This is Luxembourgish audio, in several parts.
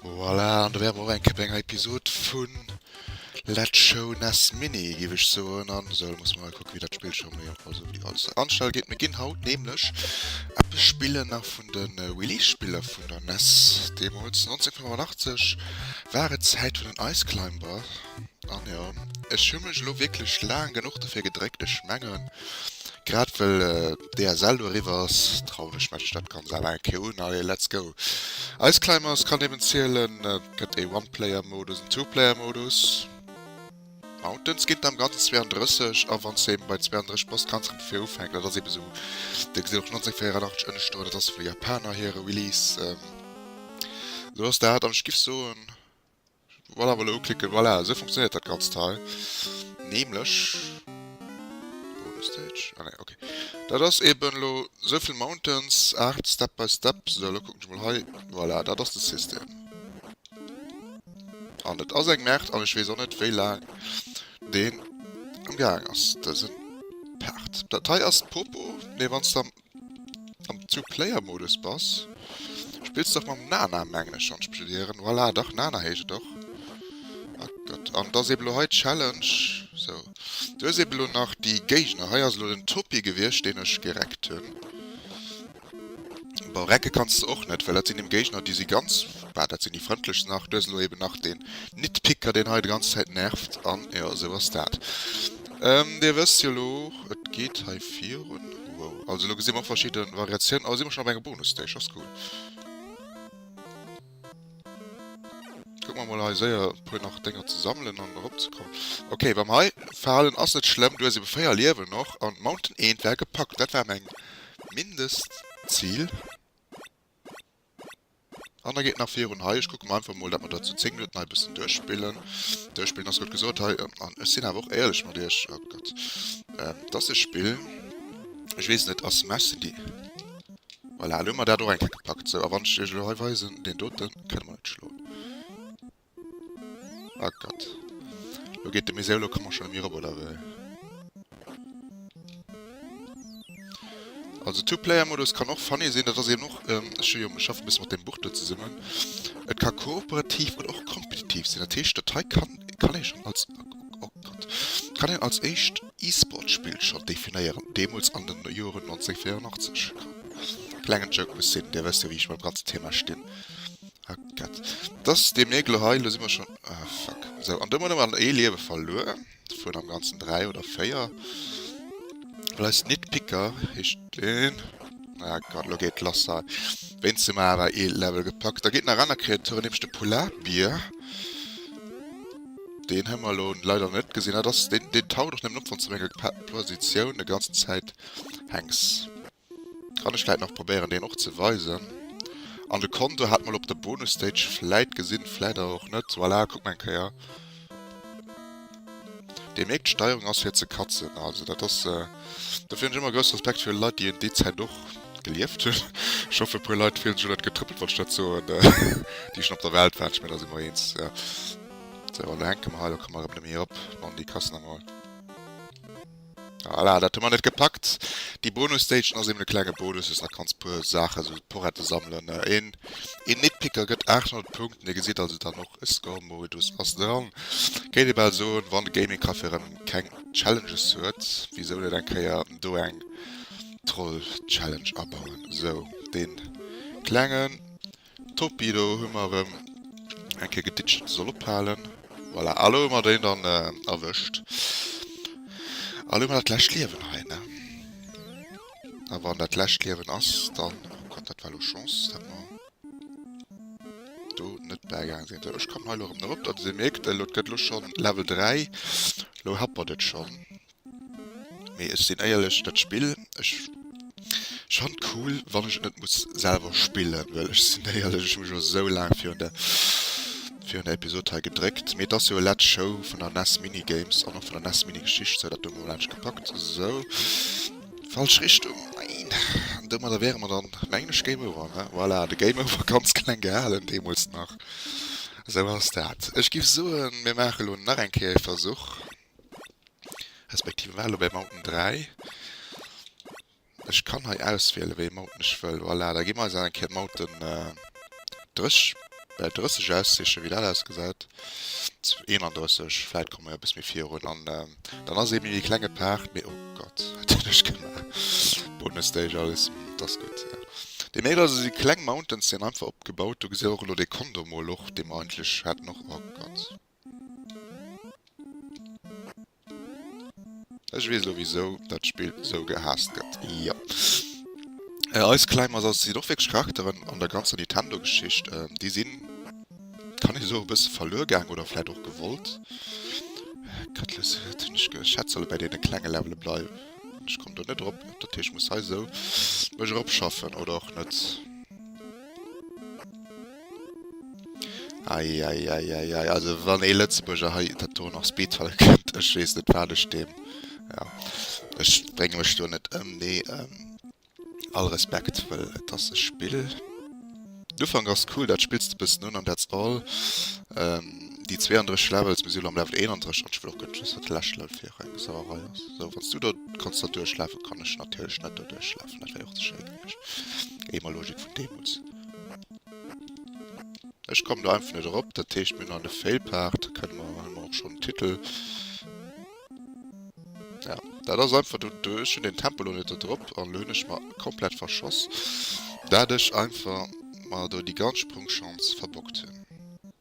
Voilà, an do wäre mer och eng Képp bei enger Episod vu Let's Show NES Mini, géif ech soen. An esou, da muss mer mol kucke wéi dat Spill scho méi op also wéi alles sech anstelle gétt. Mir ginn haut nämlech eppes spillen nach vun de Release-Spiller vun der NES. Deemools 1985 war et d'Zäit vun den Ice Climber. An jo, ech hu mech elo wierklech laang genuch dofir gedréckt. Ech mengen, grad well d'ASL do eriwwer ass, trauen ech mech dat ganz awer eng Kéier un. Allez, let's go! Iceclimbers kann eben zielen, et gëtt ee One-Player-Modus, en Two-Player-Modus. Mountains ginn et am Ganzen 32, a wann s de eben bei 32 bass, kanns de vu vir ufänken. Dat ass ebe sou, Dir gesitt och 1984 ënnescht do, dat ass vun de Japaner hire Release. Elo ass dat, an ech giff soen. Voilà, wollen uklicken, voilà, esou funktioniert dat ganzt hei nämlech. Bonus Stage, ah ne, okay, dat ass eben elo souvill Mountains, 8 Step by Step, sou elo kucken ech mol hei, voilà, dat ass de System. An et ass eng Merde an ech weess och net wéi laang deen am gaang ass dësen Part. Dat hei ass d'Popo, mee wanns de am. Am Two Player Modus bass? Spills dach mam Nana mengen ech schonn d'Spill hieren. Voilà dach Nana heescht et och. Ah Gott an et ass eben elo hei Challenge sou. Du hues eben elo nach déi Géigner. Hei ass elo den Topi gewiescht deen ech gereckt hunn. Bon recke kanns de och net well dat sinn eben Géigner déi si ganz, bah dat sinn déi frëndlechsten nach. Du hues elo eben nach den Nitpicker deen hei de ganze Zäit nervt an jo esou ass dat. Dir wësst jo lo, et geet hei virun. Wow, also lo gesi mer och verschidde Variatiounen. Oh, si mer schonn op engem Bonusstage, ass cool. Kucke mer mol hei séier e puer nach Dénger ze sammelen an eropzekommen. Okay, beim hei Verhalen ass net schlëmm, du hues ebe 4 Liewen och an Mountain Eend war gepackt. Dat war meng Mindestzil. An da geet nach virun hei. Ech kucke mer einfach mol, datt mer dat zu 10 Minutten hei e bëssen duerchspillen. Duerchspillen ass gutt gesot hei. An ech sinn awer och éierlech mat iech. Oh Gott. Et ass e Spill. Ech weess net, a Smash sinn déi. Voilà, elo hu mer dat och eng Kéier gepackt. Sou, a wann ech iech elo hei weisen, deen doten kënne mer net schloen. Oh Gott. Lo geet de Musée elo komme schon emi ropp, oder wéi? Also Two Player Modus kann och funny sinn, dat ass eben och ähm, ech hu jo ech schaffe bësse mat dem Buch do zesummen. Et ka kooperativ oder och kompetitiv sinn. Dat heescht dat hei kann kann ee schon als oh Gott kann een als éischt E-Sport Spill schon definéieren, deemools an den Joren 1984. Klengen Joke muss sinn, Dir wësst jo wéi ech mam ganze Thema stinn. Hackett. Dass dee Mirgel hei, elo si mer schonn, ah fuck, esou, an do hunn mer ee Liewe verluer vun am Ganzen dräi oder véier, well eis Nitpicker heescht deen, ah Gott, elo geet et lass hei, wéinst dem awer ee Level gepackt. Da geet nach aner Kreaturen, nämlech de Polarbier, deen hu mer elo leider net gesinn, ah dass deen, deen taucht och nëmmen op, wann s de op enger Positioun e ganzen Zäit hänks. Kann ech vläit nach probéieren deen och ze weisen. An de Konto hat mol op der Bonus Stage vläit gesinn, vläit awer och net. Voilà, kuck mer eng Kéier. Dir mierkt, d'Steierung ass fir ze katzen. Also dat ass, dofir hunn ech ëmmer grousse Respekt fir Leit, déi un déi Zäit och gelieft hunn. Ech hoffen e puer Leit fillen sech elo net getrëppelt wann ech dat soen, déi schonn op der Welt waren. Ech mengen da si mer eens. Sou, an da hänke mer hei, da komme mer erëm net méi op. Dann déi Kassen emol. Voilà, dat hu mer net gepackt. Déi Bonus-Stagen ass eben e klenge Bonus, wou s nach kanns puer Saache sou Porette sammelen. Een een Nitpicker gëtt 800 Punkten, Dir gesitt also dann och e Score-Modus ass dran. Kéint ee bal soen, wann de Gaming Café erëm keng Challenges huet, wisou net eng Kéier do eng Troll-Challenge abauen. Sou, dee klengen. Torpedo hu mer erëm eng Kéier geditcht, soll ophalen. Voilà, a lo hu mer déi dann erwëscht. A lo hu mer dat lescht Liewen hei, ne? A wann dat lescht Liewen ass, dann... Oh Gott, dat war lo Chance, datt mer do net bäigaange sinn. Sou, ech kann hei lo erëm erop. Datt ee mierkt, elo, et gëtt lo schonn Level 3. Lo happert et schonn. Mee ech sinn éierlech, dat Spill, ech fan et cool, wann ech et net muss selwer spillen, well ech sinn éierlech, ech hu mech elo esou laang virun der, virun der Episod hei gedréckt. Mee et ass jo e Let's Show vun der nes Mini Games an och vun der nes Mini Geschicht, sou dat hu mer mol anescht gepackt. Sou, falsch Richtung, neen. An domadder wäre mer dann, mengen ech, Game Over, ne? Voilà, de Game Over, ganz kleng gehalen deemools nach. Sou ass dat. Ech géif soen, mir maache elo nach eng Kéier ee Versuch. Respektiv elo bei Mountain 3. Ech kann hei auswielen, wéi ee Mountain ech wëll. Voilà, da gi mer eis eng Kéier Mountain 30 aussichen, wéi dat ausgesäit. 31, vläicht komme mer e bësse méi virun. An dann ass ee méi e klenge Paart, mee oh Gott, wat hunn ech gemaach? Bonusstage alles, dat ass gutt. Déi Mail also si kleng Mountains, déi an einfach opgebaut. Do gesitt Dir och elo dee Kondom mol och, dee mer eigentlech haten och. Oh Gott. Ech wees lo wisou dat Spill sou gehaasst gëtt. Jo. Äh eis kleng Masas sinn och wierklech Charakteren an der ganzer Nintendo Geschicht. Déi sinn, kann ee soen, e bësse verluer gaang oder vläit och gewollt. Gëttles huet hunn ech geschätzt, solle bäi deene klenge Levele bleiwen. Ech komm do net erop, dat heescht ech muss hei sou mech erop schaffen oder och net. Eieieiei also wann ee Lëtzebuerger hei dat do nach Speedfall kënnt, ech weess net wat ech deem, jo ech brénge mech do net ëm mee all Respekt well et ass e Spill. Den Ufank ass cool, dat spills de e bëssen un an that's all. Déi 32 Levels, mir si lo am Level 31 an ech wëll och guer net wëssen wat de leschte Level fir eng Sauerei ass. Sou wann s du do kanns der duerchlafen, kann ech natierlech net do duerchlafen, dat wär jo och ze schéi gewiescht, géi mer Logik vun deemools. Ech kommen do einfach net erop, dat heescht mir an de Failpart kënne mer hun mer och schon den Titel. Ja, dat ass einfach du duerch hun den Tempo lo net drop an hunn ech mer komplett verschoss, dat ech einfach mer do déi ganz Sprungschanz verbockt hunn.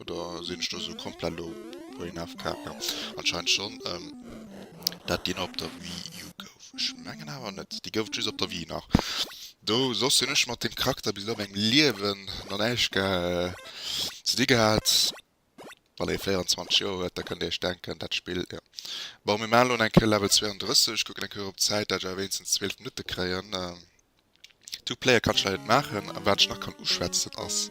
Oder sinn ech do esou komplett lo brain AFK? Jo, anscheinend schonn. Ehm, dat deen op der Wii U gouf? Ech mengen awer net. Dee gouf et just op der Wii nach. Do, soss hunn ech mat deem Charakter bis elo a mengem Liewen nach näischt ge ze di gehat. Wann ee 24 Joer huet, da kënnt ee iech denken, dat Spill, jo. Bon, mir maachen elo nach eng Kéier Level 32. Kucken eng Kéier erop d'Zäit, dat ech awer wéinstens 12 Minutte kréien. Two Player kann ech leider net maachen an waat ech nach kann uschwätzen ass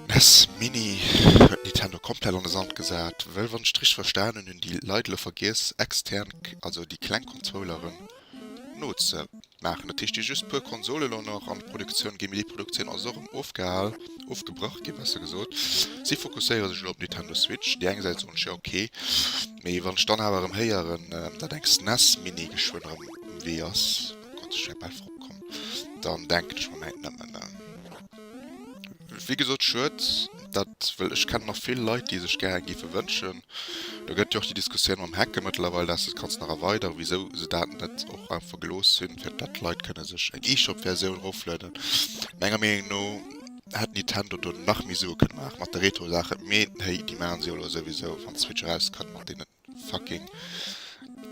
nes Mini huet Nintendo komplett an de Sand gesaat wëll wann ech et richteg verstaanen hun déi Leit elo vergiess extern, also déi kleng Konzoleren no ze maachen. Dat heescht déi just puer Konsole elo nach an Produktioun ginn mee déi Produktioun ass och erëm ofgehal, ofgebrach ginn besser gesot. Si fokusséiere sech elo op Nintendo Switch. Déi eng Säit soen ech jo ok mee wann ech dann awer erëm héieren daat eng SNES Mini geschwënn erëm Wéi ass Gott sech säi Bett opkomm? Dann denken ech mer mäin nëmmen. Wéi gesot schued, dat wëll ech kennen nach vill Leit déi sech gäre géife wënschen. Do gëtt jo och déi Diskussioun mam Hacke mëttlerweil, dass de et kanns nach erweideren, wisou se dat net och einfach gelooss hunn, fir datt d'Leit kënne sech eng eShop Versioun eroflueden. Menger Meenung no hätt Nintendo do nach méi Sue kënne maachen mat de Retro Saachen, mee héi déi maachen se jo elo souwisou wann d'Switch erauskënnt mat deenen fucking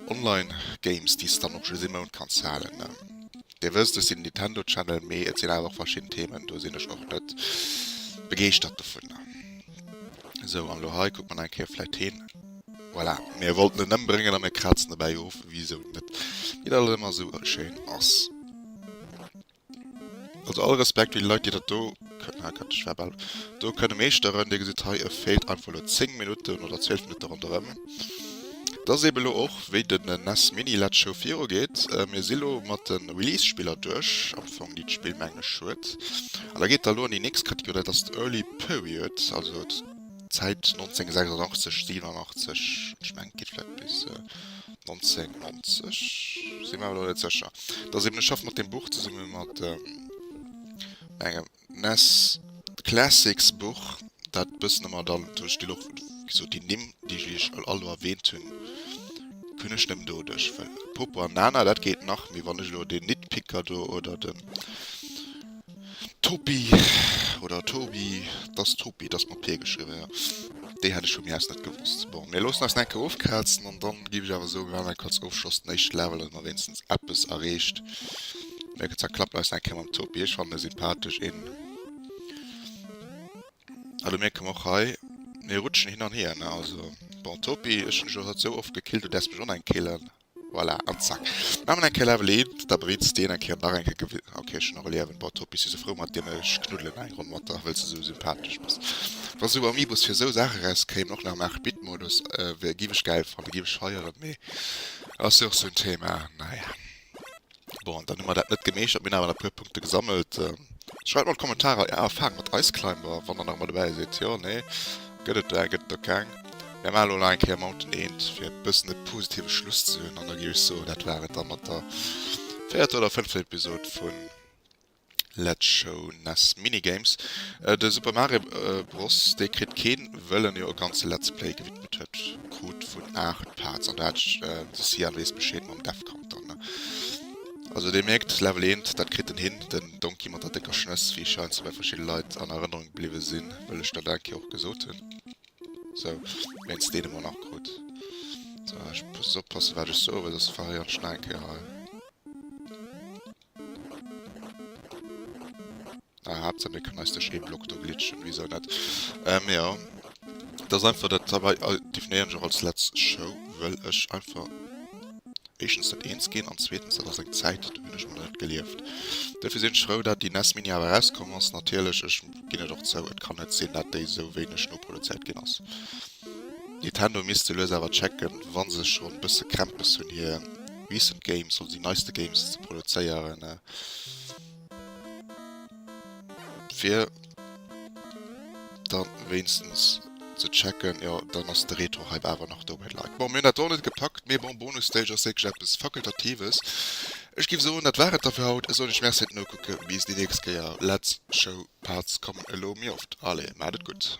online games déi s de dann och just ee Mount kanns halen. Dir wësst, ech sinn en Nintendo Channel, mee et sinn awer och verschidden Themen, do sinn ech och net begeeschtert dovun. Esou an lo hei kuckt man eng Kéier vläicht hin. Voilà, mir wollten en ëmbréngen a mir krazen dobäi of, wisou net, wéi dat ëmmer esou schéin ass. Also all Respekt fir déi Leit déi dat do do kënne meeschteren. Dir gesitt hei e feelt einfach elo 10 Minutten oder 12 Minutte ronderëm. Dat ass eebe elo och wéi den nes Mini led Show viru geet. Mir si lo mat de Release Spiller duerch am Fong déi d'Spill meng ech huet. An da geet der elo an déi nächst Kategorie dat ass d'Early Period also d'Zäit 1986, 87 ech meng geet vläit bis. 1990 sinn awer net secher dat eben schaff mat dem Buch zesumme mat engem Ness Classicsbuch dat bëssen ëmmer dann duerch de Loch so déi Nimm déi ichich all all erwähnt hunn kënnech nëm do dech well Popo an Nana dat geet nach méi wann ech lo den Nitpicker do oder den Topi oder Tobi, dass Topi, dass mat P geschriwwen, ja. Déi hat ech vu mir aus net gewosst. Bon, mir loossen eis enke ofkrazen an dann giff ech awer soen, mir maan enke als Ofschloss den éischte Level, dass mer wéinstens eppes erreecht. Mir gëtt zwar klappen eis enke mam Topi, ech fannen e sympathesch een. A do mierke mer och hei, mir rutschen hin an hier, ne, also. Bon, Topi, ech hunn dech jo haut esou oft gekillt, du däers mech oneng killen. Voilà, an zack. Mä mat eng Kéier Lavelin, da bréit s de en eng Kéier nach eng Kéier gewi. Ok, ech hunn och e Liäwen, bon, Toppi, si sou frou mat dir, mä ech knuddelen eng Ronn mat der, wëll s de sou sympathesch bass. Wa sou Amiibos fir sou Saache erauskéimen, och nach am 8 Bit Modus, wär, giff ech gäil fannen, giff ech feieren, mee ass jo och sou en Thema, naja. Bon, dann hu mer dat net gemeeschtert, mir hunn awer nach e puer Punkte gesammelt. Schreift an d'Kommentarer Är Erfahrung mat Iceclimber, wann der nach mat dobäi sidd, jo, nee, gëtt et där, gëtt et der keng? Mir maachen elo nach eng Kéier Mountain Eend, fir e bëssen e positive Schluss ze hunn, an da gi ech soen, dat war et da mat der véierter oder fënnfter Episod vun. Let's show nes minigames. De Super Mario Bros dee kritt keen wëll en jo e ganze Let's Play gewidmet huet. Krut vun 8 Parts an do hat ech de Sian wees Bescheed mam Death Count dann ne. Also dir mierkt Level 1 dat kritt en hin. Den Donkey mat der décker Schnëss wéi scheinst bei verschidde Leit an Erënnerung bliwwe sinn wëll ech dat eng Kéier och gesot hunn. Sou wéinst deenen mer nach krut. Sou ech muss oppassen wat ech soe well soss verréieren ech nach eng Kéier hei. Aha, ze mécken eis de Scheeblock do glitschen, wisou net? Ähm, jo. Et ass einfach dat heibei, definéieren ech och als letz Show, well ech einfach éischtens net eens ginn an zweetens, dat ass eng Zäit, déi hunn ech mol net gelieft. Duerfir sinn ech frou, dat déi nes Mini awer erauskommen ass. Natierlech, ech ginn et och zou, et kann net sinn, dat déi esou wéineg noproduzéiert ginn ass. Nintendo misst se lues awer checken, wann se schon bësse Krämpes hunn hier recent games oder déi neiste Games ze produzéieren fir dann wéinstens ze checken, jo dann ass de Retro Hype awer nach do bei d'Leit. Bon mir hunn dat och net gepackt, mee bon Bonus Stage ass wierklech eppes Fakultatives. Ech giff soen dat war et da fir haut, ech soen iech Merci fir d'Nokucke, bis déi nächst Kéier, Let's Show Parts kommen elo méi oft, allez maat et gutt.